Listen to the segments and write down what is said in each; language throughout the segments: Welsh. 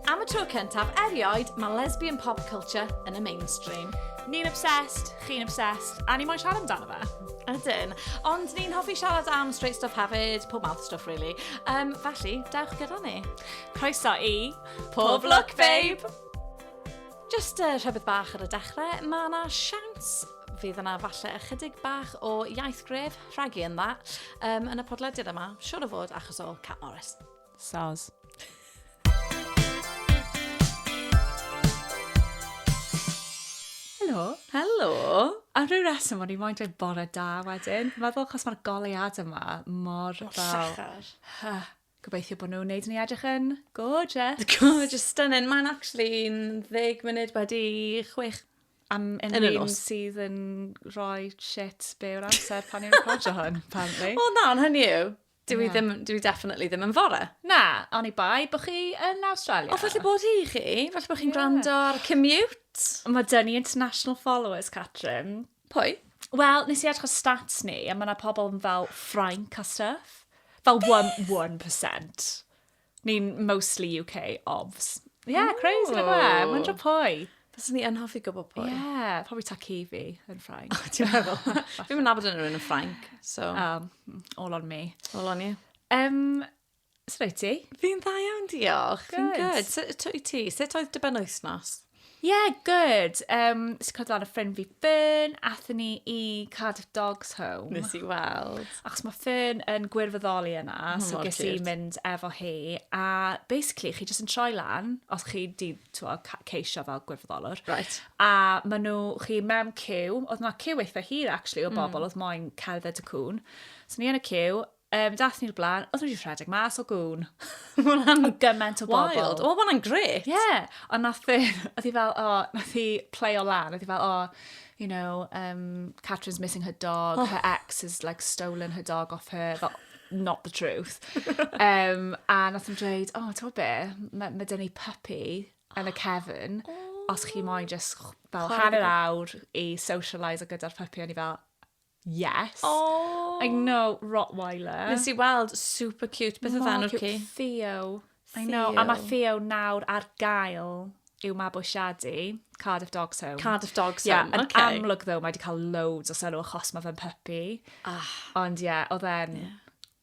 Am y tro cyntaf erioed, mae lesbian pop culture yn y mainstream. Ni'n obsessed, chi'n obsessed, a ni moyn siarad amdano fe. Ydyn. Ond ni'n hoffi siarad am straight stuff hefyd, pob mouth stuff really. Um, felly, dewch gyda ni. Croeso i... Pob Look Babe! Jyst uh, rhywbeth bach ar y dechrau, mae yna siawns fydd yna falle ychydig bach o iaith gref rhagu yn dda um, yn y podlediad yma, siwr o fod achos o Cat Morris. Soz. Helo. Helo. A rhyw reswm o'n i'n moyn dweud bore da wedyn. Meddwl, chos mae'r goleuad yma mor fel... Llachar. Gobeithio bod nhw'n wneud i ni edrych yn gorgeous. Gorgeous, stunning. Mae'n actually 10 munud wedi 6 am yn yn un sydd yn rhoi shit be o'r amser pan i'n recordio hwn, apparently. O na, ond hynny yw. Dwi, yeah. ddim, dwi definitely ddim yn fore. Na, ond i bai bod chi yn Australia. O, falle bod hi chi. Falle bod chi'n yeah. gwrando ar commute. Mae dyn ni international followers, Catrin. Pwy? Wel, nes i edrych ar stats ni, a mae yna pobl fel Ffrainc a stuff. Fel 1%. Ni'n mostly UK, obvs. Ie, yeah, crazy na fe. Mae'n dro pwy. Fes ni yn hoffi gwybod pwy. Ie, yeah, probably Takivi yn Ffrainc. O, ti'n meddwl? Fi'n mynd nabod yn rhywun yn Ffrainc, so... Um, all on me. All on you. Um, Sut wyt ti? Fi'n dda iawn, diolch. Good. Fi'n good. Sut wyt ti? Sut oedd dy ben wythnos? Yeah, good. Um, Sut cod lan y ffrind fi Fern, athyn ni i Cardiff Dogs Home. Nes i weld. Achos mae Fern yn gwirfoddoli yna, oh, so ges i mynd efo hi. A basically, chi jyst yn troi lan, os chi di twa, ceisio fel gwirfoddolwr. Right. A maen nhw, chi mewn cyw, oedd yna cyw eitha hir actually o hmm. bobl, mm. oedd moyn cerdded y cwn. So ni yn y cyw, Um, dath ni'r blaen, oedd wedi rhedeg mas o gwn. Mae'n am gymaint o bobl. Wild. O, mae'n gret. Ie. Yeah. Ond nath i, oedd hi fel, o, oh, nath i play o lan. Oedd hi fel, o, oh, you know, um, Catherine's missing her dog. Oh. Her ex has like stolen her dog off her. Fel, not the truth. um, a nath i'n dweud, o, oh, ti'n be, mae ma dyn ni puppy yn y cefn. Oh. Os chi moyn just fel hanner awr i socialise o gyda'r puppy, o'n i fel, Yes. Aww. I know, Rottweiler. Nes i weld super cute. Beth oedd enw'r ci? Theo. I know, a mae Theo nawr ar gael i'w mabwysiadu. Cardiff Dogs Home. Cardiff Dogs Home, yeah, okay. Yn amlwg ddo, mae wedi cael loads o sylw achos mae fe'n puppy. Ah. Ond ie, yeah, oedd e'n... Yeah.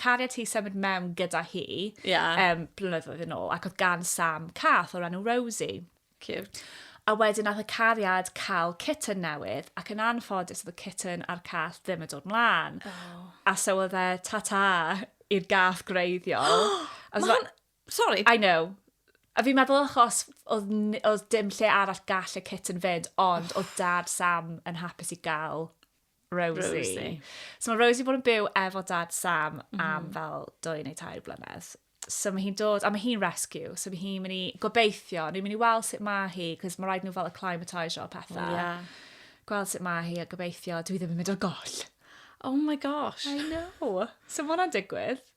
cariad hi symud mewn gyda hi yeah. um, blynyddoedd yn ôl, ac oedd gan Sam cath o'r enw Rosie. Cute. A wedyn nath y cariad cael kitten newydd, ac yn anffodus oedd y kitten a'r cath ddim yn dod mlaen. Oh. A so oedd e tata i'r gath greiddiol. Mae'n Sorry, I know. A fi'n meddwl achos oedd, oedd dim lle arall gall y kitten fynd, ond oedd dad Sam yn hapus i gael Rosie. Rosie. So mae Rosie bod yn byw efo dad Sam mm. am fel dwy neu tair blynedd. So mae hi'n dod, a mae hi'n rescue, so mae hi'n mynd i gobeithio, ni'n mynd i weld sut mae hi, cos mae rhaid nhw fel y climatisio o pethau. Oh, yeah. Gweld sut mae hi a gobeithio, dwi ddim yn mynd o'r goll. Oh my gosh. I know. So mae hwnna'n digwydd.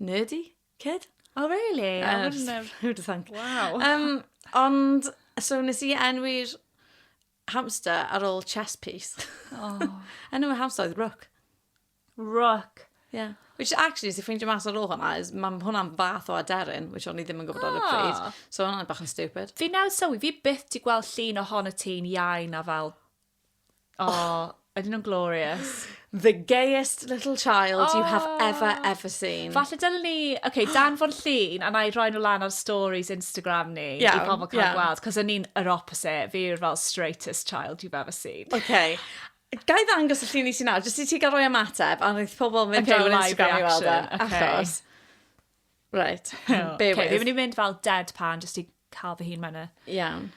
nerdy kid. Oh really? I uh, wouldn't have... Who'd think? Wow. Um, ond, so nes i enwi'r hamster ar ôl chess piece. Oh. Enw y hamster oedd Rook. Rook. Yeah. Which actually, si ffeindio mas ar ôl hwnna, is mae hwnna'n fath o aderyn, which o'n i ddim yn gwybod ar y pryd. Ah. So hwnna'n bach yn stupid. Fi nawr sylwi, fi byth di gweld llun o hon y ti'n iau na fel Oh, ydyn nhw'n glorious. The gayest little child oh. you have oh. ever, ever seen. Falle dylen ni, oce, okay, dan fo'r llun, a na i roi nhw lan ar stories Instagram ni, yeah, i pobl cael yeah. gweld, cos o'n i'n yr opposite, fi yw'r fel straightest child you've ever seen. Okay. Gai ddangos y llun i ti nawr, jyst i ti gael rhoi ymateb, a wnaeth pobl mynd okay, ar Instagram i weld e, okay. achos. Right, oh, be okay, with. Fi'n mynd i mynd fel deadpan, jyst i cael fy hun mewn y... Iawn.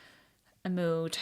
Y mood.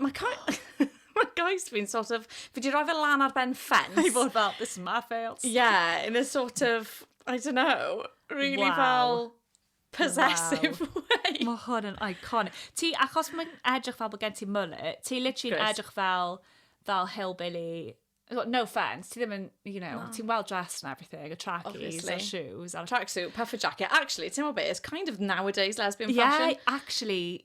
Mae cais... Mae cais fi'n sort of... Fi di roi fe lan ar ben ffens. I fod fel, this is my fails. Yeah, in a sort of, I don't know, really wow. fel possessive wow. way. Mae hwn yn iconic. Ti, achos mae'n edrych fel bod gen ti mullet, ti literally'n edrych fel, fel hillbilly no offence, ti ddim yn, you know, no. ti'n well dressed and everything, a trackies, a shoes. A... Tracksuit, puffer jacket. Actually, ti'n meddwl beth, it's kind of nowadays lesbian yeah, fashion. Yeah, actually,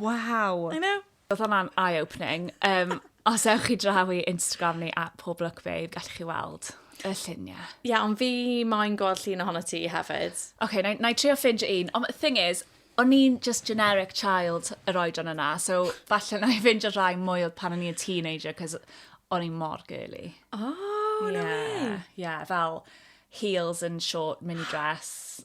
Waw! I know. Oedd hwnna'n eye-opening. Um, os ewch chi draw i Instagram ni at Pob Look Babe, gallwch chi weld y lluniau. Ie, yeah, ond fi mae'n gweld llun ohono ti hefyd. Oce, okay, na, na i trio ffindio un. Ond thing is, o'n i'n just generic child yr oedran yna, so falle na i ffindio rhai mwy oedd pan o'n i'n teenager, cos o'n i'n mor girly. Oh, yeah, no way! Yeah, fel heels and short mini dress.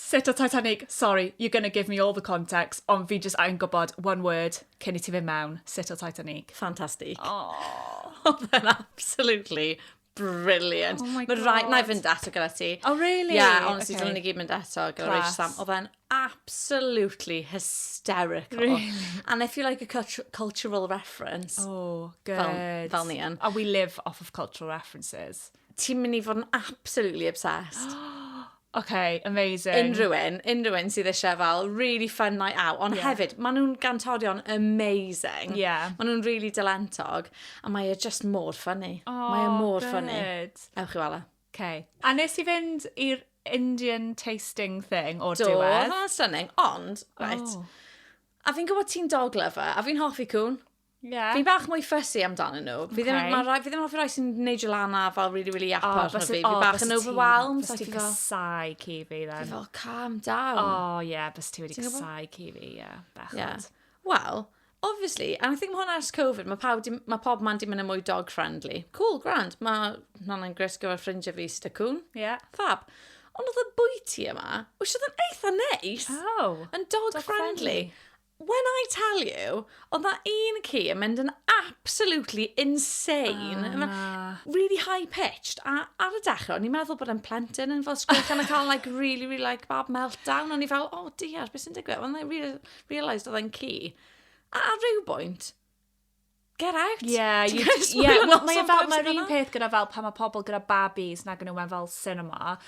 Sut o Titanic? Sorry, you're gonna give me all the context, ond fi jyst angen gwybod one word cyn i ti fynd mewn, sut o Titanic? Ffantastig. Oh. Oedd e'n absolutely brilliant. Oh my god. Mae rhaid, na i fynd eto gyda ti. Oh really? Yeah, honestly, okay. dylen ni gyd mynd eto gyda Rachel Sam. Oedd e'n absolutely hysterical. Really? And if you like a cultural reference... Oh, good. Fel, fel ni yn. And we live off of cultural references. ti'n mynd i fod yn absolutely obsessed. OK, amazing. Unrhyw un, unrhyw un sydd eisiau fel really fun night out, ond yeah. hefyd, maen nhw'n gantorion amazing. Yeah. Maen nhw'n really dylentog, a mae e just mor funny. Oh, mae e mor good. funny. Ewch i wala. E. OK. A nes i fynd i'r Indian tasting thing o'r diwedd. Do, hwnna'n stunning, ond, right. Oh. A fi'n gwybod ti'n dog lover, a fi'n hoffi cwn. Yeah. Fi bach mwy fussy amdano nhw. Fi ddim, okay. ma, fi ddim hoffi rai sy'n neud you lan a fel really, really apart oh, arno fi. Fi oh, bach yn overwhelmed. Bys ti'n casau ci fi, then. Fi fel, calm down. Oh, yeah, bys ti wedi casau ci fi, yeah, bechod. Yeah. Wel, obviously, and I think mae hwnna ers Covid, mae, pawb, mae pob man di mynd yn mwy dog friendly. Cool, grand. Mae hwnna'n gres gyfer ffrindiau fi sydd y cwn. Yeah. Fab. Ond oedd y bwyty yma, wysiodd yn eitha neis. Oh. Yn dog, dog friendly. friendly. When I tell you, oedd na un ci yn mynd yn absolutely insane. Oh, na. Really high-pitched. A ar y dechrau, o'n i'n meddwl bod yn plentyn yn fel sgwrch yn y cael like really, really like bad meltdown. O'n i fel, oh dear, beth sy'n digwydd? Ond I realised oedd e'n ci. A ar ryw bwynt, get out. Yeah, you, yeah. Well, mae e fel, mae'r un peth gyda fel pan mae pobl gyda babis nag yn nhw mewn fel cinema.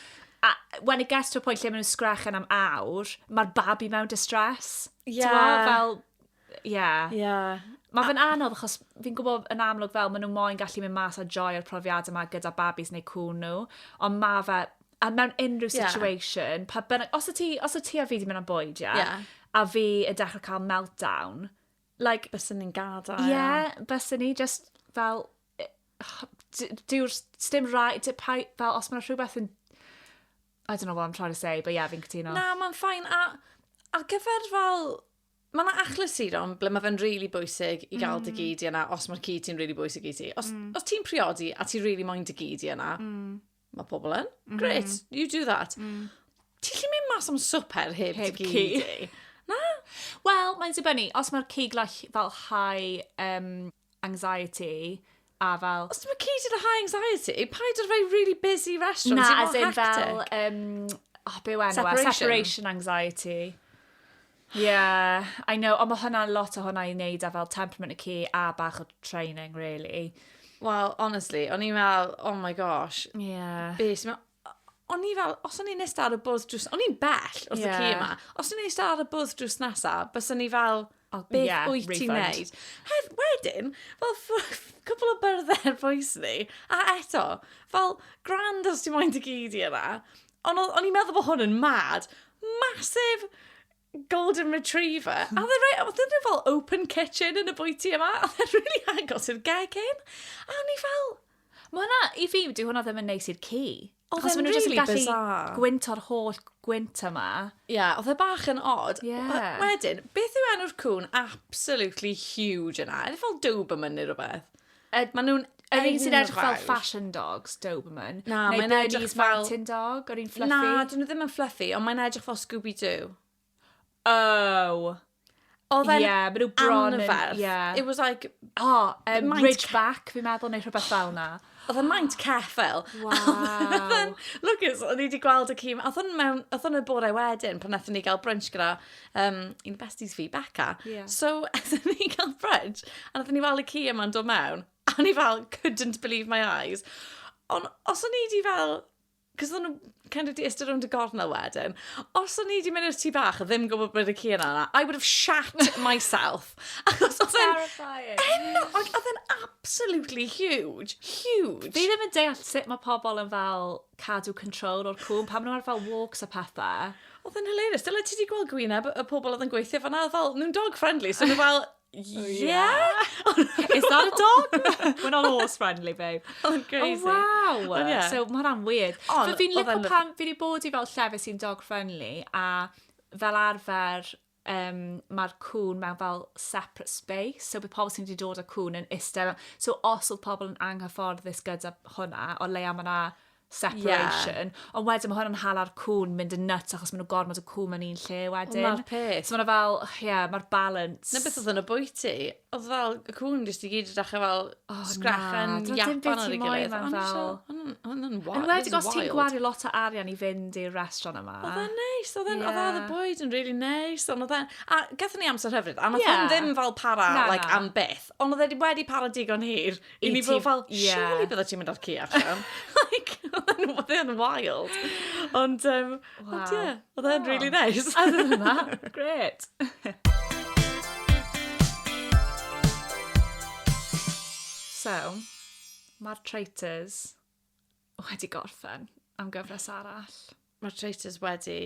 A when it gets to a point lle maen nhw'n sgrechen am awr, mae'r babi mewn distress. Yeah. Tewa, fel, yeah. Yeah. Mae fe'n anodd achos fi'n gwybod yn amlwg fel maen nhw moyn gallu mynd mas a joy o'r profiad yma gyda babis neu cwn nhw, ond mae fe, a mewn unrhyw situation, yeah. pa bynnag, os y ti, os y ti a fi wedi mynd am bwyd, yeah, yeah. a fi yn dechrau cael meltdown, Like... Bysen ni'n gadael. Ie, bysen ni, jyst fel, d- dyw'r... sdim rai- d- pai- fel, os mae 'na rhywbeth yn... I don't know what I'm trying to say, but yeah, fi'n cytuno. Na, mae'n fine, a ar gyfer fel... Mae 'na achlysuron ble mae fe'n rili bwysig i gael dy gi di yna, os mae'r ci ti'n rili bwysig i ti. Os... os ti'n priodi a ti rili moyn dy gi di yna... mae pobl yn. Mm. Great, mm-hmm. you do that. Mm. Ti'n lli mynd mas am swper heb, heb cig di? Na? Wel, mae'n dibynnu. Os mae'r cig like, fel high um, anxiety, a fel... Os ti'n cig di high anxiety, paid o'r fai really busy restaurant. Na, as in fel... Um, oh, be enw, separation. separation anxiety. Yeah, I know, ond mae hwnna'n lot o hwnna i wneud â fel temperament y ci a bach o training, really. Wel, honestly, o'n i'n meddwl, oh my gosh, yeah. be sy'n meddwl? O'n i fel, os o'n i'n eistedd ar y bwrdd drws, o'n i'n bell wrth yeah. y ci yma, os o'n i'n eistedd ar y bwrdd drws nesa, bys o'n i fel, oh, beth yeah, wyt ti'n neud? Hef, wedyn, fel cwpl o byrddau poes ni, a eto, fel grand os ti'n moyn dy gyd i yna, Ond o- o'n i'n meddwl bod hwn yn mad. Massive golden retriever. A oedd e'n rhoi, oedd e'n rhoi fel open kitchen yn y bwyty yma. A oedd e'n really agos i'r gegin. A o'n i fel, Mae hwnna, i fi, dyw hwnna ddim yn neis i'r ci. Oedd Achos e'n maen nhw jyst yn really gallu bizarre. gwynto'r holl gwynt yma. ie, yeah, oedd e bach yn odd. Ie. Wel, Wedyn, beth yw enw'r cwn absolutely huge yna? Enw fel Doberman neu rhywbeth. Yd- Maen nhw'n... Yr Ydyn un sy'n nhw'n edrych fel fawr. fashion dogs, Doberman. Na, neu mae'n edrych Bernese fel- Mountain Dog, yr un fluffy. Na, dyn nhw ddim yn fluffy, ond mae'n edrych fel Scooby-Doo. Oh. Oedd Ie, e'n yeah, maen nhw bron yn... anferth. Ie. It was like, O, um, Maent- Ridgeback, fi'n meddwl, neu rhywbeth fel na. oedd e'n maint ceffel. Waw. Lucas, o'n i wedi gweld y cîm, oedd hwn mewn, oedd hwn y bore wedyn, pan nathon ni gael brunch gyda um, un o besties fi, Becca. Yeah. So, ydyn ni cael brunch, a ydyn ni fel y ci yma'n dod mewn, a ni fel, couldn't believe my eyes. Ond os o'n i di fel, cos o'n nhw kind of di ystod rownd y gornel wedyn, os o'n i di mynd i'r tu bach, ddim gwybod bod y ci yna yna, I would have shat myself. Achos oedd e'n... Terrifying. Ennog, oedd e'n absolutely huge. Huge. Fi ddim yn deall sut mae pobl yn fel cadw control o'r cŵn, pam nhw'n arfer walks a pethau. Oedd yn hilarious. Dyla ti wedi gweld gwyneb y pobl oedd yn gweithio fanna, oedd fel, nhw'n dog friendly, so nhw fel, oh, yeah? Is that a dog? We're not horse friendly, babe. Oedd yn crazy. Oh, wow. Oh, yeah. So mae rhan weird. Ond, fi'n licio pan fi wedi bod i fel llefydd sy'n dog friendly, a fel arfer, um, mae'r cwn mewn fel separate space, so bydd pobl sy'n wedi dod â cwn yn eistedd. So os oedd pobl yn anghyfforddus gyda hwnna, o leia mae yna separation. Yeah. Ond wedyn mae hwnna'n hala'r cwn mynd yn nuts achos maen nhw gormod y cwn mewn un lle wedyn. Ond mae'r peth. So mae'n fel, ie, yeah, mae'r balance. Na beth oedd yn y bwyty. Oedd fel, y cwn jyst i gyd yn dechrau fel O na. Sgrech yn Japan ar ei gilydd. Doedd dim byd ti'n moyn ma'n fel... Hwn yn wild. Yn wedi os ti'n gwario lot o arian i fynd i'r restaurant yma. Oedd e'n neis. Oedd e'n... Oedd y bwyd yn really neis. Ond oedd e'n... A gathon ni amser hyfryd. A nath hwn ddim fel para like am byth. Ond oedd e wedi para digon hir i ni fod fel, surely bydde ti'n mynd ar ci allan. Like, oedd e'n wild. Ond yym... Waw. Ond ie, oedd e'n really nice. Oedd e'n yma, gret. so, mae'r traitors wedi gorffen am gyfres arall. Mae'r traitors wedi...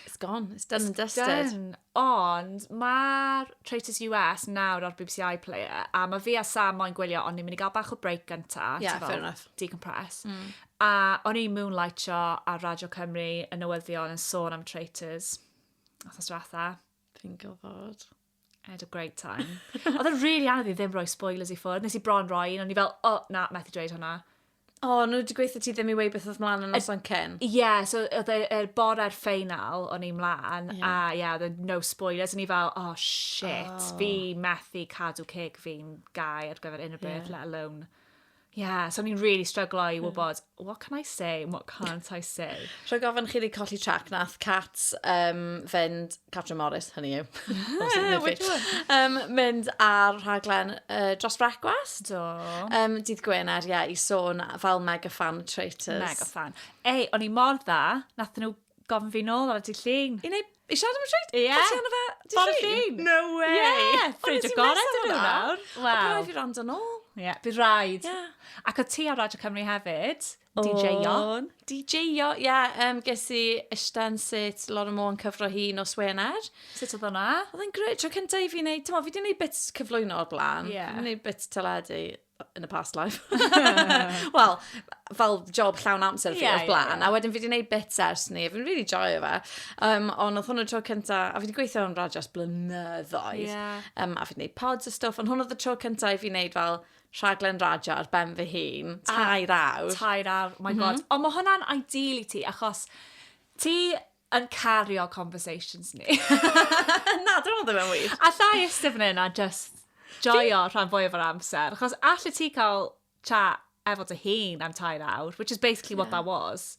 It's gone, it's done it's and dusted. Done. Ond mae'r Traitors US nawr ar BBC iPlayer, a mae fi a Sam moyn gwylio, ond ni'n mynd i gael bach o break gynta. Yeah, fair enough. Decompress. Mm. A o'n i'n moonlightio ar Radio Cymru yn newyddion yn sôn am Traitors. Othos ratha. Fi'n gofod. I had a great time. Oedd yn really anodd i ddim rhoi spoilers i ffwrdd. Nes i bron roi un, o'n i fel, oh, na, methu dweud hwnna. O, oh, nhw wedi gweithio ti ddim i wei beth oedd mlaen yn noson cyn. Ie, yeah, so oedd e'r er bore'r ffeinal o'n i'n mlaen, yeah. a ie, yeah, oedd e no spoilers, o'n i fel, oh shit, oh. fi methu cadw ceg fi'n gau ar gyfer unrhyw beth, yeah. let alone Ie, yeah, so ni'n really stryglo i wybod, yeah. what can I say, what can't I say? Rhaid gofyn chi wedi colli trac, nath Cat um, fynd Catrin Morris, hynny yw. Ah, which one? Um, mynd ar rhaglen uh, dros brecwast. Do. Um, dydd Gwener, ie, yeah, i sôn fel mega fan o Traitors. Mega fan. Ei, o'n i mor dda, nath nhw gofyn fi nôl ar y dydd llun. I wneud I siarad am y treid? Ie. Yeah. Ti'n fe? Bore llun? No way. Ie. Yeah. Ffrind o gorau dyn nhw nawr. Wow. Bydd rhaid i rand yn ôl. Ie. Bydd rhaid. Ie. Ac o ti ar Radio Cymru hefyd. DJ-o. O'n. DJ-o, ie. Yym ges i ishtan sut Laura Moore yn cyfro hi nos Wener. Sut oedd hwnna? Oedd e'n greu, tro cyntaf i fi wneud, ti'n mo, fi wedi gwneud bits cyflwyno o'r blaen. Ie. Fi wedi gwneud bits teledu in a past life. Wel, fel job llawn amser fi Ie, o'r ie, blaen. ie. A wedyn fi wedi gwneud bits ers ni. Fi'n really joio fe. Um, ond oedd hwn y tro cyntaf, a fi wedi gweithio yn radios blynyddoedd. Ie. Um, a fi wedi gwneud pods a stwff, ond hwn oedd y tro cyntaf i fi wneud fel rhaglen radio ar ben fy hun, tair awr. Tair awr, my god. Mm -hmm. Ond mae hwnna'n ideal i ti, achos ti yn cario conversations ni. na, dwi'n meddwl ddim yn wir. A llai ystaf yn yna, just joio rhan fwyaf o'r amser. Achos allai ti cael chat efo dy hun am tair awr, which is basically yeah. what that was.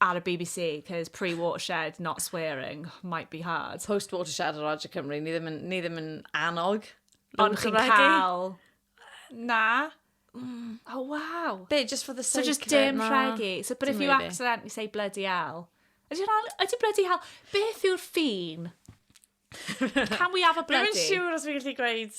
ar y BBC, cos pre-watershed, not swearing, might be hard. Post-watershed ar Radio Cymru, ni ddim yn, ni ddim yn annog. Ond chi'n cael... Na. Mm. Oh, wow. Be, just for the sake of it? So just dim rhegi. So, but if you accidentally say bloody hell, Ydy hwnna, ydy bloody hell, beth yw'r ffin? Can we have a bloody? Rwy'n siŵr os fi'n gallu gweud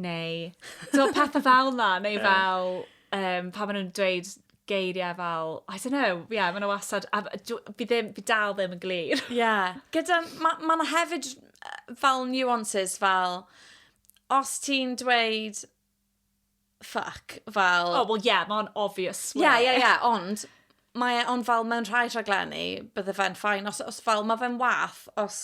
Neu, so pethau fel na, neu fel, um, pa maen nhw'n dweud geiriau fel, I don't know, ie, yeah, maen nhw wastad, a fi, ddim, fi dal ddim yn glir. Ie, yeah. gyda, mae ma yna hefyd fel nuances fel, os ti'n dweud fuck, fel... Oh, well, yeah, mae'n obvious. Ie, yeah, ie, yeah, ie, yeah, ond mae e, ond fel mewn rhai rhaglenni, bydde fe'n ffain, os, os fel, mae fe'n wath, os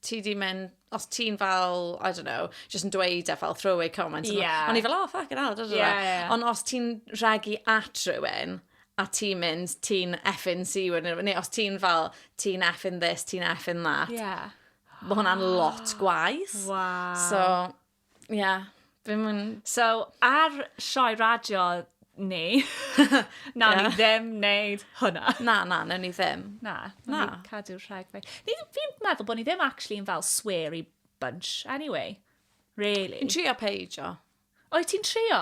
ti 'di mynd, os ti'n fel, I don't know, just yn dweud e fel throwaway comment. Ie. Yeah. O'n i fel, oh, fuck it, out, Ie, ie. Ond os ti'n regu at rhywun, a ti'n mynd, ti'n effin si wedyn, neu os ti'n fel, ti'n effin this, ti'n effin that, Ie. mae hwnna'n lot gwaith. Waw. So, Ie, dwi'm yn... So, ar sioe radio ni, nawn ni ddim wneud hwnna. Na, na, nawn ni ddim. Na, na. Ni cadw rhag fe. Fi'n meddwl bod ni ddim actually yn fel sweary bunch, anyway. Really. Yn trio peidio. Oed ti'n trio?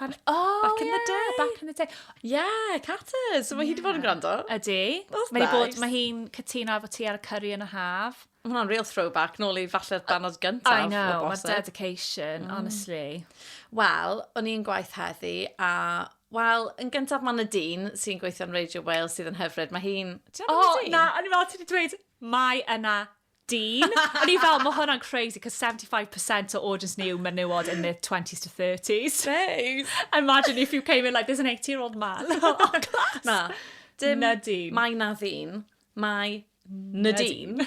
Pan... O, ie! Back in the day. Back in the day. Ie, Caters. So mae hi wedi bod yn gwrando. Ydy. That's mae bod, nice. Mae hi'n cytuno efo ti ar y curry yn y haf. Mae hwnna'n real throwback, nôl i falle'r banod gyntaf. I know, mae dedication, mm. honestly. Wel, o'n i'n gwaith heddi, a Wel, yn gyntaf mae'n y dyn sy'n gweithio yn Radio Wales sydd yn hyfryd. Mae hi'n... O, oh, na, o'n i'n meddwl ti wedi dweud, mae yna dyn. O'n i fel, mae hwnna'n crazy, cos 75% o audience ni yw menywod in their 20s to 30s. Babe! Imagine if you came in like, there's an 80 year old man. oh, class! Na. Dim na dyn. Mae na ddyn. Mae na dyn.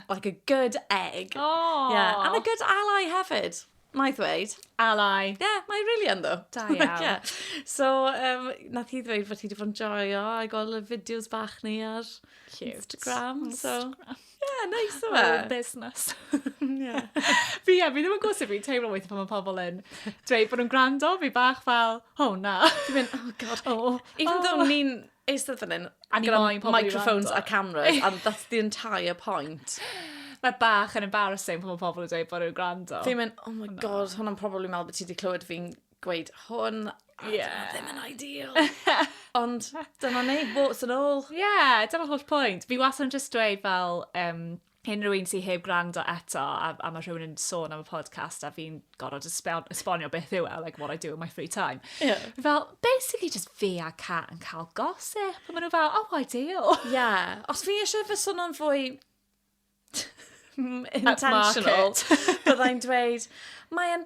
like a good egg. Oh. Yeah, and a good ally hefyd. Mae ddweud. Ally. Yeah, mae really yn ddo. Da iawn. yeah. So, um, nath hi ddweud bod hi wedi bod yn joio a gweld y fideos bach ni ar Cute. Instagram. So, Instagram. yeah, nice o fe. Oh, business. yeah. fi, yeah, fi ddim yn gwrs sut fi'n teimlo weithio pan mae pobl yn dweud bod nhw'n gwrando, fi bach fel, oh na. Dwi'n mynd, oh god. Oh, Even oh. though ni'n eistedd fan 'yn a gyda microphones a cameras and that's the entire point. Mae bach yn embarrassing pan mae pobl yn dweud bod nhw'n gwrando. Fi'n mynd, oh my god, hwnna'n probably meddwl bod ti wedi clywed fi'n gweud hwn. Yeah. Ddim yn ideal. Ond dyna ni, what's yn ôl. Yeah, dyna holl pwynt. Fi was yn just dweud fel, um, unrhyw un sy'n heb gwrando eto, a, a mae rhywun yn sôn am y podcast, a fi'n gorfod esbonio beth yw e, like what I do in my free time. Yeah. Fel, basically just fi a Cat yn cael gosip, a maen nhw fel, oh, ideal. Yeah, os fi eisiau fy sôn o'n fwy intentional, byddai'n dweud, mae'n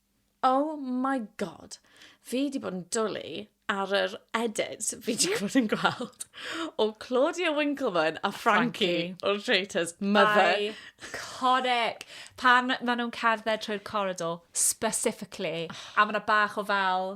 Oh my God. Fi 'di bod yn dwli ar yr edit fi 'di bod yn gweld o Claudia Winkleman a Frankie o'r Traitors. Mother. Iconic. Pan maen nhw'n cerdded trwy'r corridor, specifically, a mae yna bach o fel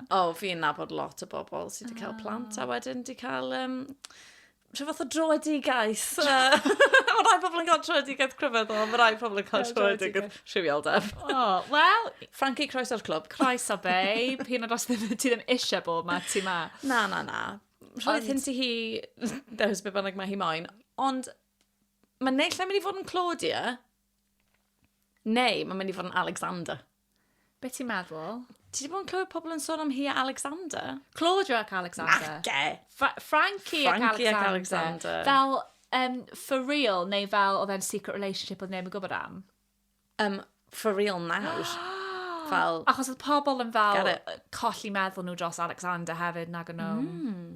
O, oh, fi'n nabod lot o bobl sydd wedi cael plant a ah. wedyn wedi cael um, rhyw fath o droedigaeth. mae rhai pobl yn cael troedigaeth cryfedd o, mae rhai pobl yn cael troedigaeth rhywioldeb. O, oh, wel... Frankie, croes o'r clwb. Croes o babe. Hyn o'r os ti ddim eisiau bod ma, ti ma. Na, na, na. Rhaid hyn ti hi, dewis beth bynnag mae hi moyn. Ond mae neill yn mynd i fod yn Claudia, neu mae'n mynd i fod yn Alexander. Be ti'n meddwl? Ti wedi bod yn clywed pobl yn sôn am hi a Alexander? Claudia ac Alexander. Nage! Fra Frankie, Frankie ac Alexander. Ac Alexander. Fel, um, for real, neu fel oedd e'n secret relationship oedd neb yn gwybod am? Um, for real nawr. fel... Achos oedd pobl yn fel colli meddwl nhw dros Alexander hefyd nag o'n nhw. Mm.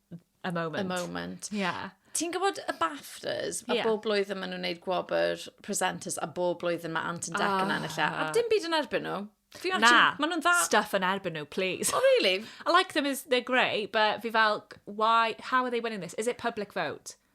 a moment. A moment. Yeah. Ti'n gwybod y BAFTAs, a yeah. bob blwyddyn maen nhw'n gwneud gwobr presenters, a bob blwyddyn mae Ant and Dec yn ah. ennill e, a dim byd yn erbyn nhw. Fi Na, ma nhw'n dda. Stuff yn erbyn nhw, please. Oh, really? I like them as they're grey, but fi fel, why, how are they winning this? Is it public vote?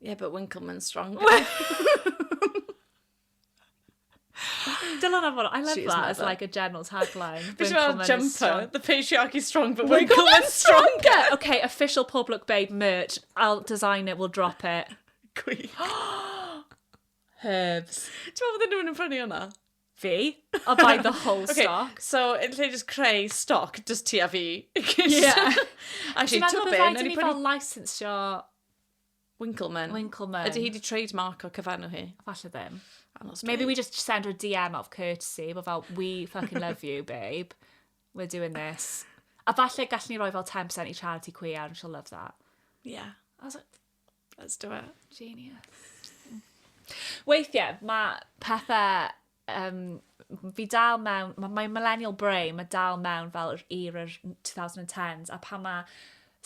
Yeah, but Winkleman's stronger. Dylan am hwnna. I love She's that as like a general tagline. Fi'n siarad jumper. Strong. The patriarchy's strong, but Winkleman's stronger. okay, official Pob Lwc Babe merch. I'll design it, we'll drop it. Gwych. Herbs. Ti'n meddwl bod nhw'n yn prynu hwnna? fi. I'll buy the whole okay, stock. So, yn lle just creu stock, just ti a fi. yeah. Actually, ti'n meddwl bydde ni fel licensio Winkleman. Winkleman. Ydy hi di trademark o cyfannu hi? Falle ddim. Maybe we just send her a DM of courtesy, but fel, we fucking love you, babe. We're doing this. A falle gallwn ni roi fel 10% i charity queer, and she'll love that. Yeah. I was like, Let's do it. Genius. Weithiau, mae pethau... Um, fi dal mewn... Mae my millennial brain, mae dal mewn fel yr yr 2010s, a pan mae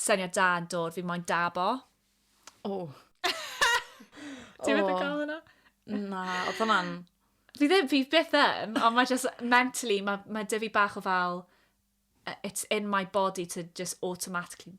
syniad da yn dod, fi moyn dabo. O. Oh. Ti'n meddwl gael hwnna? Na, oedd hwnna'n... Fi ddim, fi byth yn, ond mae just mentally, mae ma dyfu bach o fel, it's in my body to just automatically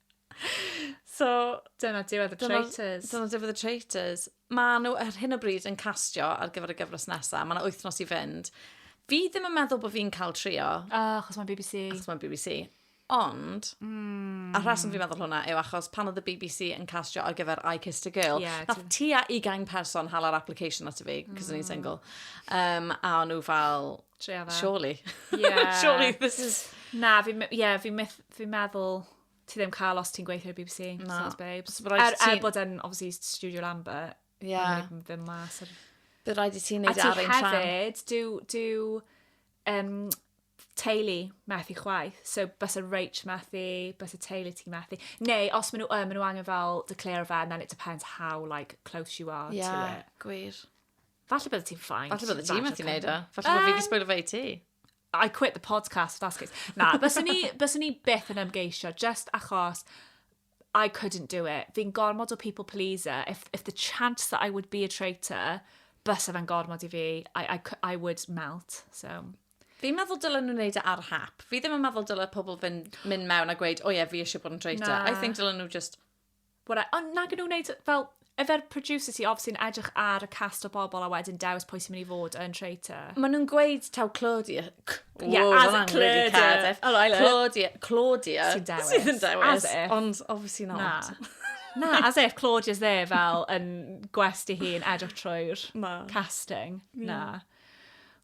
So... Dyna diwedd y Traitors. Dyna diwedd y Traitors. Mae nhw ar hyn o bryd yn castio ar gyfer y gyfres nesaf. Mae yna wythnos i fynd. Fi ddim yn meddwl bod fi'n cael trio. O, achos mae'n BBC. Achos mae'n BBC. Ond, mm. a rhaswm fi'n meddwl hwnna yw achos pan oedd y BBC yn castio ar gyfer I Kissed a Girl, yeah, nath ti a 20 person hal ar application at y fi, cos mm. o'n i'n single. Um, a o'n nhw fel, Tria fe. Surely. Yeah. Surely this is... Na, fi, yeah, fi, myth, fi meddwl ti ddim cael os ti'n gweithio i'r BBC. Na. Sounds babes. So, er, er bod yn, obviously, Studio Lambert. Yeah. Ddim, ddim mas. Ar... Bydd rhaid i ti'n neud ar ein tram. A ti hefyd, do, do um, teulu methu chwaith. So, bys y reach methu, bys y teulu ti methu. Neu, os maen nhw, uh, maen nhw angen fel declare fe, then it depends how like, close you are yeah, to it. Yeah, gwir. Falle bydde ti'n ffain. Falle bydde ti'n methu neud o. Falle bydde fi wedi sbwylio fe i ti. I quit the podcast, that's case. Na, bys ni, bys ni byth yn ymgeisio, just achos I couldn't do it. Fi'n gormod o people pleaser. If, if the chance that I would be a traitor, bys efo'n gormod i fi, I, I, I would melt. So, Fi'n meddwl dylen nhw wneud e ar hap. Fi ddim yn meddwl dylen pobl fynd, mynd mewn a gweud, o oh, ie, yeah, fi eisiau bod yn traitor. Na. I think dylen nhw just Whatever. Ond nag nhw'n gwneud fel... Ife yr producer sy obviously yn edrych ar y cast o bobl a wedyn dewis pwy sy'n mynd i fod yn traitor? Maen nhw'n gweud taw Claudia... C- Yeah, Ww, as ma' hwnna'n really Claudia. Cardiff. Oh, I like it. Claudia, Claudia Sy'n dewis. sydd yn dewis. As if. Ond obviously Na. not. Na, as if Claudia's there fel yn gwest i hun edrych trwy'r Na. casting. Na.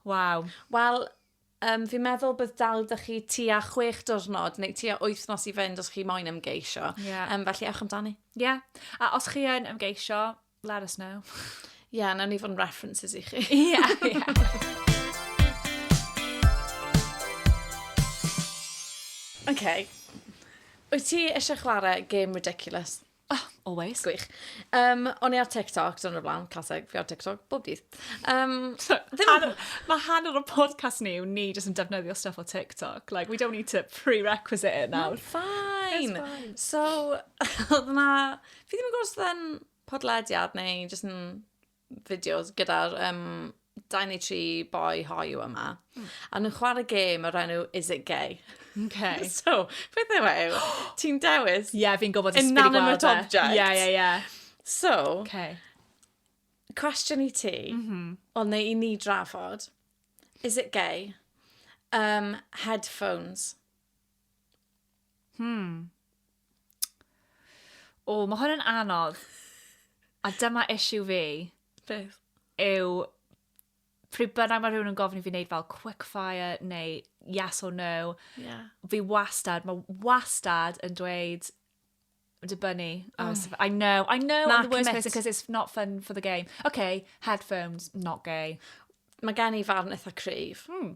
Waw. Wel, Yym, fi'n meddwl bydd dal da chi tua chwech diwrnod neu tua wythnos i fynd os chi moyn ymgeisio. Yeah. Um, felly ewch amdani. Ie. Yeah. A os chi yn ymgeisio, let us know. Ie, yeah, nawn ni fod yn references i chi. Ie, yeah, ie. Yeah. OK. Wyt ti eisiau chwarae game ridiculous? Oh, always. Gwych. Um, o'n i ar TikTok, dyna'r blaen, classic, fi ar TikTok, bob dydd. Um, so, hanner, mae hanner o podcast ni yw ni jyst yn defnyddio stuff o TikTok. Like, we don't need to prerequisite it now. No, fine. fine. So, oedd na, fi ddim yn gwrs yn podlediad neu jyst yn fideos gyda'r um, dau neu tri boi hoiw yma. Mm. A nhw'n chwarae gêm o'r enw Is It Gay? Okay. so, beth yw e? Ti'n dewis? Ie, yeah, fi'n gwybod ysbryd gweld e. Inanimate object. Ie, yeah, ie, yeah, ie. Yeah. So, okay. cwestiwn i ti, mm -hmm. o neu i ni drafod, is it gay? Um, headphones. Hmm. O, mae hwn yn anodd. A dyma issue fi. Beth? Yw, pryd bynnag mae rhywun yn gofyn i fi wneud fel quickfire neu yes or no, yeah. fi wastad, mae wastad yn dweud dibynnu. Oh. I know, I know Mark I'm the worst person because it's not fun for the game. Okay, headphones, not gay. Mae gen i farn eitha cryf. Hmm.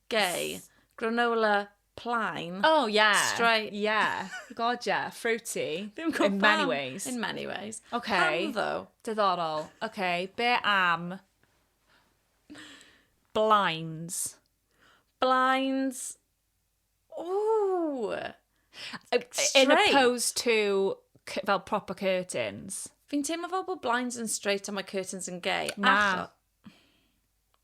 Gay. Granola plaen. Oh yeah. Strai... Yeah. God yeah. Fruity. Fi'n gwybod pam. In many ways. In many ways. Okay. Pam ddo? Diddorol. Okay. Be am... Blinds. Blinds. Ooh. Straight. In opposed to fel proper curtains. Fi'n teimlo fel bod blinds yn straight a mae curtains yn gay. Na. Acho...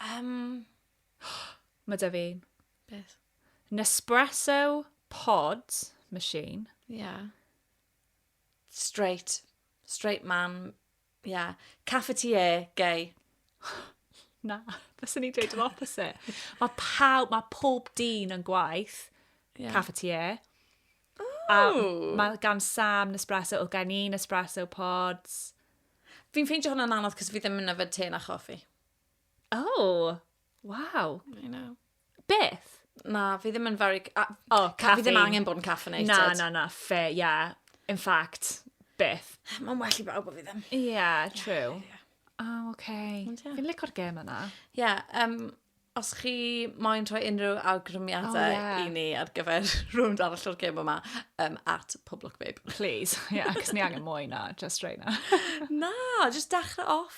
Yym. Mae 'da fi. Beth? Nespresso pod machine. Ia. Straight. Straight man. Ia. Cafetier gay. Na. Fyswn i'n dweud yr opposite. Mae pawb, mae pob dyn yn gwaith. Yeah. Cafetier. A mae gan Sam Nespresso, oedd gen i Nespresso pods. Fi'n ffeindio hwnna'n anodd cos fi ddim yn yfed te na choffi. Oh, wow. I know. Beth? Na, fi ddim yn very... A, oh, caffeine. Fi ddim angen bod yn caffeinated. Na, na, na, fair, yeah. In fact, beth? Mae'n well i bawb o fi ddim. Yeah, true. Yeah, yeah. Oh, okay. Ond, yeah. Fi'n licor gem yna. Yeah, um, os chi moyn rhoi unrhyw awgrymiadau oh, yeah. i ni ar gyfer rhywun arall o'r gym yma, um, at Public Babe. Please, yeah, cos ni angen mwy na, just right na. na, just dechrau off.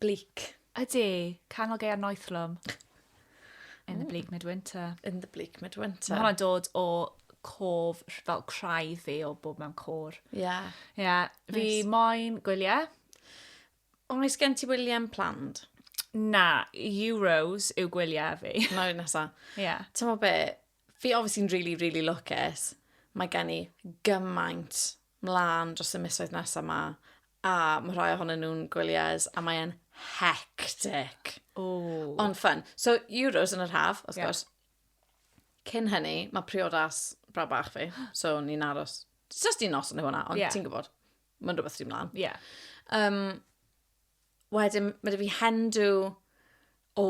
Bleak. Ydi, Canol Gaeaf Noethlwm. In the bleak midwinter. In the bleak midwinter. Mae hwnna'n dod o cof, fel craidd fi o bob mewn cor. Ie. Yeah. Ie. Yeah. Nice. Fi moyn gwyliau. Oes gen ti William planned? Na, Euros yw gwyliau fi. Mae'n rhaid nesa. Ie. Yeah. Ti'n mo be, fi obviously'n really, really lwcus. Mae gen i gymaint mlaen dros y misoedd nesaf ma, a mae rhai ohonyn nhw'n gwyliau a mae e'n hectic. Ooh. Ond ffyn. So, Euros yn yr haf, wrth yeah. gwrs. Cyn hynny, mae priodas bra bach fi, so ni'n aros. Just un nos yn hwnna, ond yeah. ti'n gwybod, mae'n rhywbeth sy'n mlaen. Yeah. Um, wedyn, mae dy fi hendw o,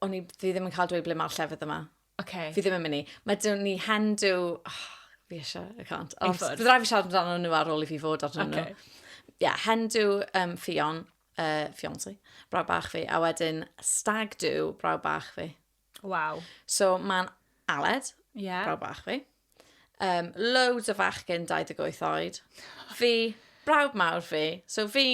o'n i ddim yn cael dweud ble mae'r llefydd yma. Oce. Fi ddim yn mynd i. Mae dyn ni hen dw... Oh, fi eisiau, I can't. Ond Ei fod. byddai fi siarad amdano nhw ar ôl i fi fod arnyn nhw. Oce. Ie, yeah, hen dw um, ffion, uh, fiancé, brawd bach fi, a wedyn stag dw brawd bach fi. Waw. So mae'n Aled, Ie. brawd bach fi. Um, loads o fachgen 28 oed. Fi, brawd mawr fi. So fi,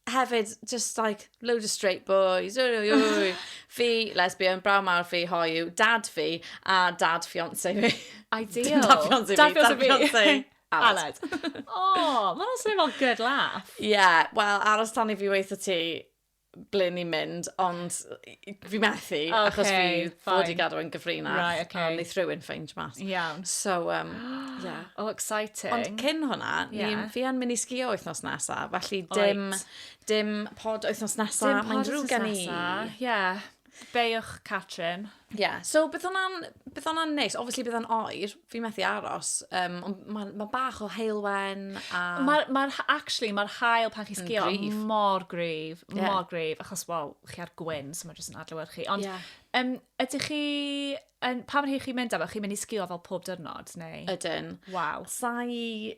hefyd, just like, load of straight boys, oi, oi, oi. fi, lesbian, braw mawr fi, hoiw, dad fi, a dad fiance fi. Ideal. dad fiance fi, dad fiance fi. Aled. o, oh, mae'n swnio fel good laugh. Ie, yeah, wel, aros tan i fi weithio ti ble ni'n mynd, ond fi methu, okay, achos fi fod i gadw yn gyfrinach. Right, okay. A wneud rhywun ffeind mas. Iawn. So, um, yeah. Oh, exciting. Ond cyn hwnna, yeah. ni, fi yn mynd i sgio wythnos nesa, felly dim, right. dim pod wythnos nesa. Dim pod wythnos nesa, ie. Yeah. Beiwch Catrin. Ie, yeah. so bydd hwnna'n neis. Obviously bydd hwnna'n oer, fi methu aros. Um, mae ma bach o heilwen a... Mae'r, ma actually, mae'r hael pan chi sgio grif. mor grif, yeah. mor grif, achos, wel, chi ar gwyn, so mae jyst yn adlywed chi. Ond, yeah. um, ydych chi, um, pa mor hir chi'n mynd efo, chi'n mynd i sgio fel pob dyrnod, neu? Ydyn. Waw. Sa'i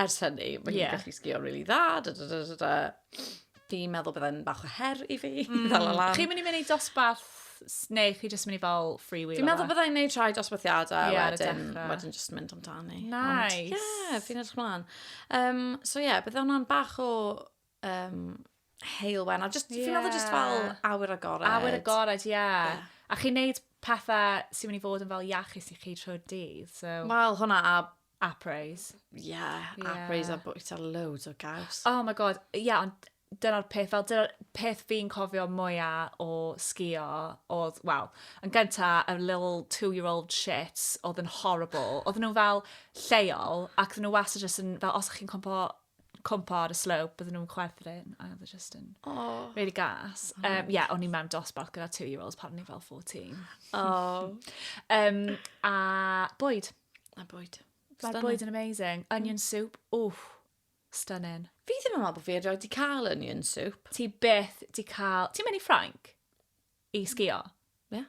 Ers hynny, mae hi'n yeah. gallu sgio'n rili really dda, da, da, da, da, da. Fi'n meddwl byddai'n bach o her i fi, mm. ddal lan. Chi'n mynd i mynd i dosbarth neu chi jyst mynd i fel free wheel? Fi'n meddwl byddai'n neud rhai dosbarthiadau yeah, wedyn, wedyn just mynd amdani. Nice. Ond, yeah, fi'n edrych mlaen. Um, so yeah, byddai hwnna'n bach o Um, heilwen, a just, yeah. fi'n meddwl just fel awyr agored. Awyr agored, ie. Yeah. Yeah. A chi'n neud pethau sy'n mynd i fod yn fel iachus i chi trwy'r dydd, so... Wel, hwnna a Apres. Yeah, yeah. Apres a bwyta loads o gaws. Oh my god, ie, yeah, ond dyna'r peth, fel dyna'r peth fi'n cofio mwyaf o sgio oedd, wel, yn gynta, a little two-year-old shit oedd yn horrible. Oedd nhw fel lleol, ac oedd nhw wastad jyst yn, fel, os chi'n cwmpo cwmpo ar y slope, bydden nhw'n chwerthin, a oedd e just yn oh. really gas. Oh. Um, yeah, o'n i mewn dosbarth gyda two-year-olds pan o'n i fel 14. Oh. um, a bwyd. A bwyd. Mae'r bwyd yn amazing. Onion soup, wff, stunning. Fi ddim yn meddwl bod fi erioed wedi cael onion soup. Ti byth wedi cael... Ti'n mynd i Ffrainc? I sgio? Ie. Yeah.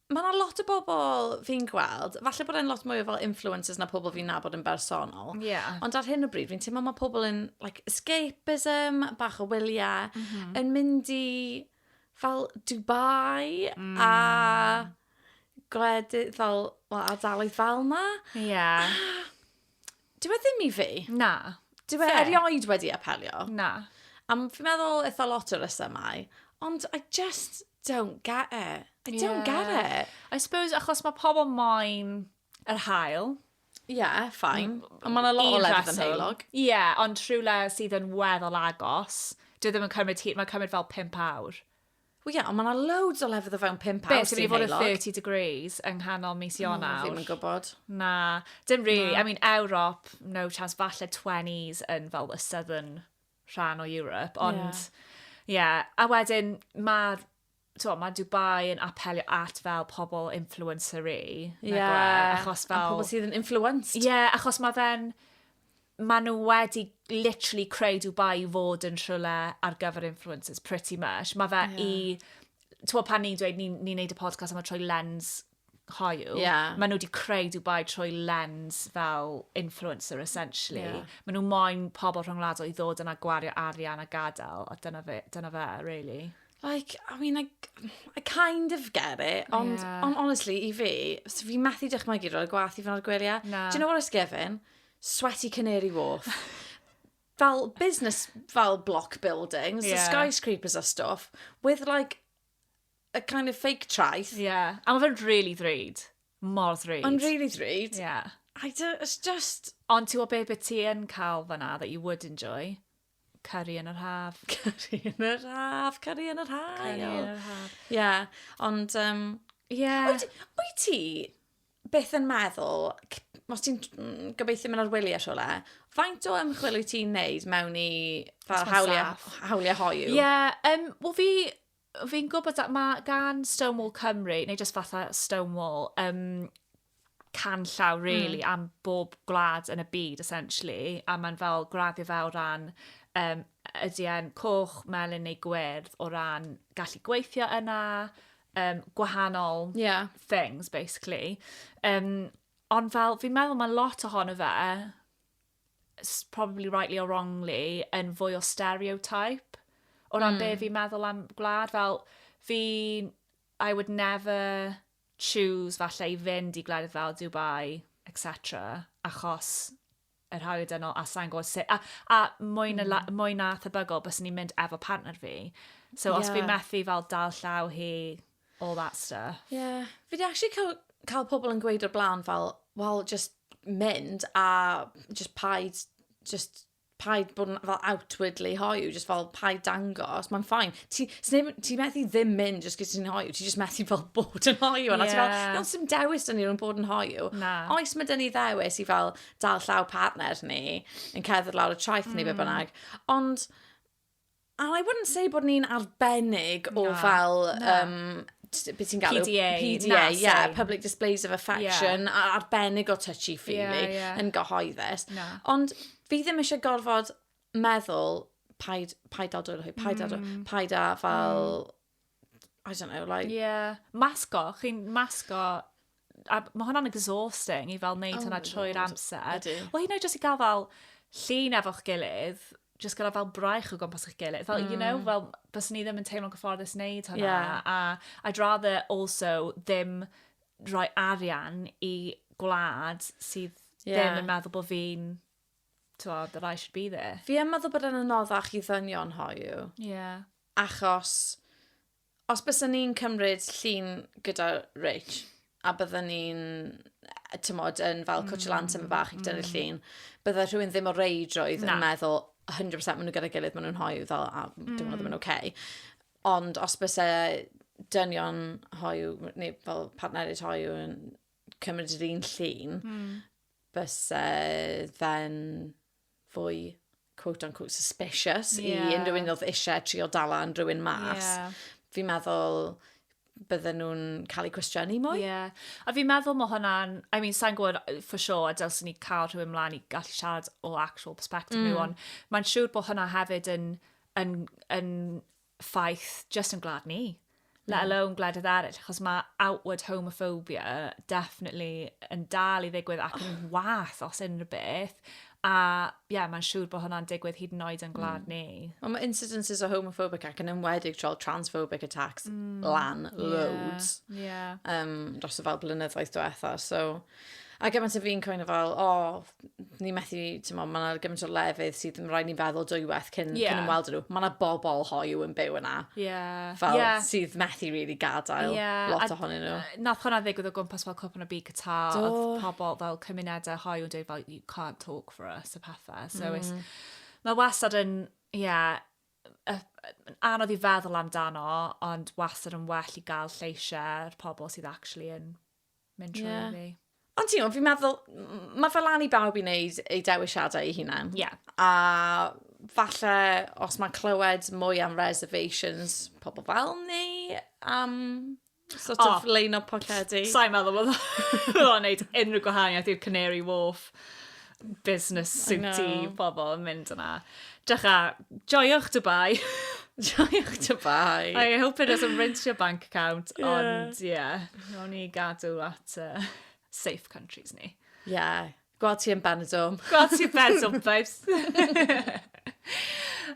Mae 'na lot o bobl fi'n gweld, falle bod e'n lot mwy o fel influencers na pobl fi'n nabod yn bersonol. Ie. Ond ar hyn o bryd, fi'n teimlo mae pobl yn like, escapism, bach o wyliau, mhm. yn mynd i fel Dubai mm. a gwledydd fel, well, ardaloedd fel na. Ie. Yeah. Dyw e ddim i fi. Na. Dyw e erioed wedi apelio. Na. Am, fi'n meddwl eitha lot o resymau. Ond I just don't get it. I yeah. don't get it. I suppose achos mae pobl moyn yr hael. Ie, yeah, ffain. Mm, ond mae'n a lot o lefydd yn heilog. Ie, yeah, ond rhywle sydd yn weddol agos. Dwi e ddim yn cymryd hir, mae'n cymryd fel 5 awr. Wel ie, ond mae yna loads o lefydd o fewn pump awr sy'n heulog. Beth, sy'n mynd i fod yn 30 degrees yng nghanol mis Ionawr? O, fi'n yn gwybod. Na, dim really. Na. I mean, Ewrop, no chance, falle 20s yn fel y southern rhan o Europe, ond... Yeah. Yeah, a wedyn mae to, mae Dubai yn apelio at fel pobl influencer-y. Ie. Yeah. Achos fel... A pobl sydd yn influenced. Ie, yeah, achos mae fe'n maen nhw wedi literally creu Dubai i fod yn rhywle ar gyfer influencers, pretty much. Mae fe yeah. i... Twa, pan ni'n dweud, ni'n ni neud y podcast am y trwy lens hoiw, yeah. maen nhw wedi creu Dubai trwy lens fel influencer, essentially. Yeah. Maen nhw moyn pobl rhwngwladol i ddod yna gwario arian a gadael, a dyna fe, dyna fe really. Like, I mean, I, I kind of get it, ond yeah. on, honestly, i fi, so fi methu dychmygu roi'r gwaith i fan o'r gwylio. Do you know what I was giving? sweaty Canary Wharf. fel business, fel block buildings, yeah. skyscrapers a stuff, with like a kind of fake traeth. Yeah. A mae fe'n really ddrud. Mor ddrud. Ond really ddrud. Yeah. I do, it's just... Ond ti'n gwybod beth ti yn cael fanna that you would enjoy? Cari yn yr haf. Cari yn yr haf, cari yn yr haf. Cari yn yr haf. Yeah, ond... Um, yeah. Wyt ti beth yn meddwl, os ti'n mm, gobeithio mynd ar wely a siwle, faint o ymchwil wyt ti'n neud mewn i fel hawliau, hawliau hoiw? Ie, yeah, um, wel fi, fi'n gwybod at mae gan Stonewall Cymru, neu jyst fatha Stonewall, um, can llaw, hmm. really, mm. am bob gwlad yn y byd, essentially, a mae'n fel graddio fe o ran um, ydy e'n coch, melyn neu gwyrdd o ran gallu gweithio yna, um, gwahanol yeah. things, basically. Um, ond fel, fi'n meddwl mae lot ohono fe, probably rightly or wrongly, yn fwy o stereotype. O ran mm. be hmm. fi'n meddwl am gwlad, fel, fi, I would never choose falle i fynd i gwledydd fel Dubai, etc. Achos yr haul dynol a sai'n gwybod sut, a, a mwy, na, mm. mwy na thebygol bys ni'n mynd efo partner fi. So yeah. os fi methu fel dal llaw hi, all that stuff. Yeah. Fi di actually cael, cael pobl yn gweud o'r blaen fel, well, just mynd a just paid, just paid bod yn fel outwardly hoiw, just fel paid dangos, mae'n ffain. ti, ti methu ddim mynd jyst gyda ti'n hoiw, ti jyst methu fel bod yn hoiw. Yeah. A ti fel, iawn, sy'n dewis dyn ni rhwng bod yn hoiw. Na. Oes mae dyn ni ddewis i fel dal llaw partner ni, yn cerdded lawr y traeth mm. ni, be mm. bynnag. Ond, and I wouldn't say bod ni'n arbennig o Na. fel Na. um, beth ti'n galw? PDA. PDA, ie. Yeah, public displays of affection, yeah. arbennig o touchy-feely, yeah, yeah. yn gyhoeddus. No. Ond fi ddim eisiau gorfod meddwl, paid, paid dal dwylo hi, paid dal dwylo, mm. paid a fel, mm. I don't know, like... Yeah, masgo, chi'n masgo a mae hwnna'n exhausting i fel wneud oh hwnna trwy'r amser. Wel, hyn oed jyst i gael fel llun efo'ch gilydd, jyst gyda fel braich o gwmpas eich gilydd. Fel, mm. you know, mm. fel, bys ni ddim yn teimlo'n gyfforddus wneud hwnna. Yeah. A I'd rather also ddim rhoi arian i gwlad sydd yeah. ddim yn meddwl bod fi'n t'mod that I should be there. Fi yn meddwl bod e'n anoddach i ddynion hoyw. Ie. Achos, os byswn ni'n cymryd llun gyda Rich, a bydden ni'n, e, t'mod, yn fel cwtsh lan tyma bach i gyda'r llun, bydde rhywun ddim o reidrwydd yn meddwl 100% maen nhw gyda'i gilydd, maen nhw'n hoyw, fel, a dwi'n meddwl ddim yn oce. Ond os byse dynion hoyw, neu fel partneriaid hoyw yn cymryd yr un llun, byse fe'n fwy quote on quote suspicious yeah. i unrhyw un oedd eisiau trio dalan rhywun mas. Yeah. Fi'n meddwl bydden nhw'n cael eu cwestiynu mwy. Yeah. A fi'n meddwl mae hwnna'n, I mean, sa'n gwybod uh, for sure, a dylsyn ni cael rhywun mlaen i gallu siarad o actual perspective mm. nhw, ond mae'n siŵr bod hwnna hefyd yn, yn, yn ffaith just yn gwlad ni, let hmm. alone gwledydd eraill, achos mae outward homophobia definitely yn dal i ddigwydd ac yn oh. wath os unrhyw beth. A ie, yeah, mae'n siŵr bod hwnna'n digwydd hyd yn oed yn gwlad mm. ni. Ond mae incidences o homophobic ac yn ymwedig trol transphobic attacks mm. lan loads. Yeah. yeah. Um, dros y fel blynyddoedd diwetha. So, A gymaint o fi'n kind of fel, o, ni methu, ti'n mo, mae yna gymaint o lefydd sydd yn rhaid ni feddwl dwywaith cyn, yeah. cyn ymweld nhw. Mae yna bobl hoiw yn byw yna. Yeah. Fel yeah. sydd methu rili really gadael yeah. lot ohonyn nhw. Nath hwnna ddigwydd o gwmpas fel cwpl o byd cyta, oedd pobl fel cymunedau hoiw yn dweud fel, you can't talk for us, y pethau. So mm. mae wastad yn, ie, yeah, anodd i feddwl amdano, ond wastad yn well i gael lleisiau'r pobl sydd actually yn mynd trwy yeah. fi. Ond ti'n gwybod, fi'n meddwl, mae fel lan i bawb i wneud ei dewisiadau ei hunan. Yeah. A falle, os mae'n clywed mwy am reservations, pobl fel ni, am sort oh, of lein o pocedi. Sa'n meddwl bod o'n gwneud unrhyw gwahaniaeth i'r Canary Wharf. business suity pobl yn mynd yna. Dycha, joio'ch Dubai. joio'ch Dubai. I hope it doesn't rinse your bank account, yeah. ond ie, yeah, no ni gadw at uh, safe countries ni. Ie. Yeah. Gweld ti yn Benidorm. Gweld ti yn Benidorm, babes.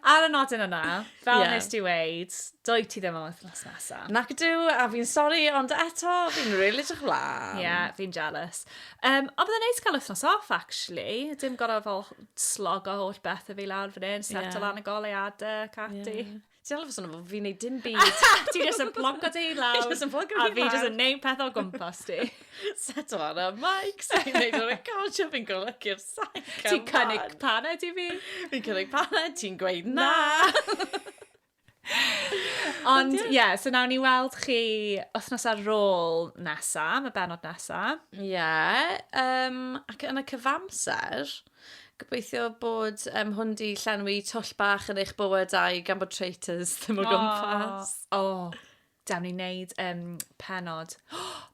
Ar y nodyn yna, fel yeah. nes ti weid, doi ti ddim am wythnos nesa. Nac ydw, a fi'n sori, ond eto, fi'n rili really edrych lan. Ie, yeah, fi'n jealous. Um, ond byddai'n neis cael wythnos off, actually. Dim gorau fel slog o holl beth y fi lawr fan hyn, set yeah. o lan y goleuadau, cati. Yeah. Ti'n alw sôn am fi'n neud dim byd. ti jyst yn plonco dy hun lawr. Just yn plonco fi lawr. A fi jyst yn neud peth o gwmpas ti. Set o lan am mic, so fi'n neud o'n recordio, fi'n golygu'r sac. Ti'n cynnig paned i fi. Fi'n cynnig paned, ti'n gweud na. Ond ie, yeah, so nawn ni weld chi wythnos ar ôl nesa, mae benod nesa. Ie, yeah, um, ac yn y cyfamser, Gobeithio bod um, hwn di llenwi twll bach yn eich bywydau gan bod traitors ddim o gwmpas. O, oh, dawn ni wneud um, penod.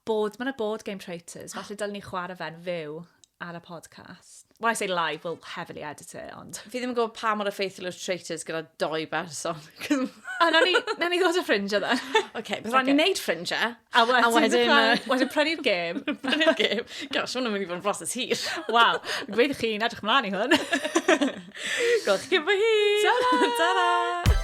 bod, mae'n y bod game traitors. Falle dylwn ni chwarae fe'n fyw ar y podcast. When I say live, we'll heavily edit it, ond... Fi ddim yn gwybod pa mor effeithiol yw'r traitors gyda doi berson. A na ni, na ni ddod o ffrindiau dda. Oce, beth rhaid ni wneud ffrindiau? A wedyn, a wedyn, prynu, wedyn prynu'r gêm. prynu'r gêm. Gosh, hwnna'n mynd i fod yn broses hir. Waw, gweithio chi'n edrych mlaen i hwn. Gwelch chi fy hi. Ta-ra! Ta-ra!